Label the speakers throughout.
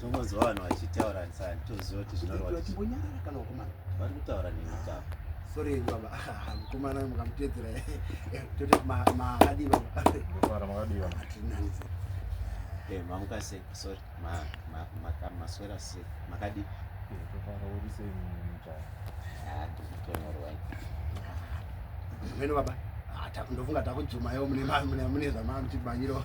Speaker 1: tombonzwa vanhu
Speaker 2: vachitaura sani toziva kuti zvinorwatimbonyarara kana ukumana
Speaker 1: vari kutaura nemutavo
Speaker 2: sori henyu
Speaker 1: baba mukomana mukamutedzera toti makadii baba makadii baba
Speaker 3: tinanise
Speaker 2: mamukase sori maswera se makadi
Speaker 1: meno baba ndofunga takujumayo mune zvamamuchimanyiro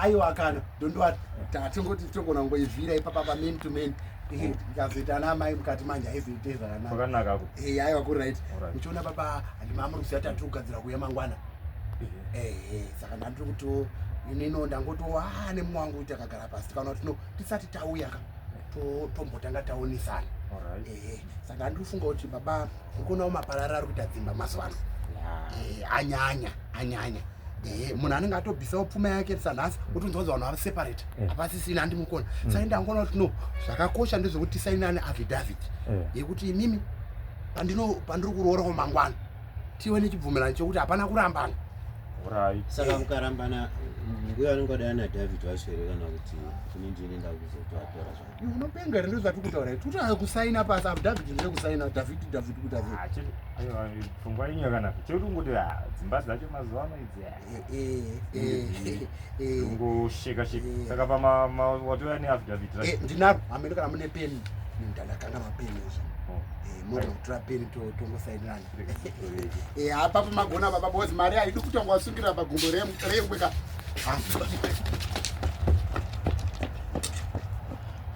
Speaker 3: aiwa kana
Speaker 1: ndondoati tatingoti togona kungoivhira ipapa pamen to man ndikazoita ana amai mukati manje aizoite zvakanaka eh, aiwa
Speaker 3: kurit
Speaker 1: muchiona baba handimamuri kuziva tati kugadzira kuya mangwana eh, eh. saka ndandiri kutiwo inino ndangotiwo haa nemumwe wangu kuti akagara pasi tikaona kuti no tisati tauya ka tombotanga taonesana ehe saka ndandiri kufunga kuti baba uri kuonawo maparara ari kuita dzimba mazuva ano anyanya anyanya Eh, munhu anenge atobvisawo pfuma yake sanhasi otonzi wanzi vanhu vaseparate eh. hapasisina andimukona mm. saka ndangoona kuti no zvakakosha ndezvekuti tisainane affidavit eh. yekuti imimi pandiri kuroora kwamangwana tive nechibvumirano chekuti hapana kurambana urai saka
Speaker 2: mukarambana mbuya anenge adai ana david vacho here kana kuti kune ndine ndakuzotoatora zva unopenga here ndozvati kutaura
Speaker 1: here totanga kusaina pasi apo david ndire kusaina david david kudavid ah, pfungwa
Speaker 3: inyo kana chekuti ungoti ah, dzimba dzacho mazuva ano idzi ah. ngosheka sheka saka pamawatoya neaffidavit ndinaro hameno kana
Speaker 1: mune peni ndandakanga mapeni izvo oh. mogona kutora peni tongosainirana hapa pamagona baba bos mari haidi kutangwa wasungira pagumbo rembweka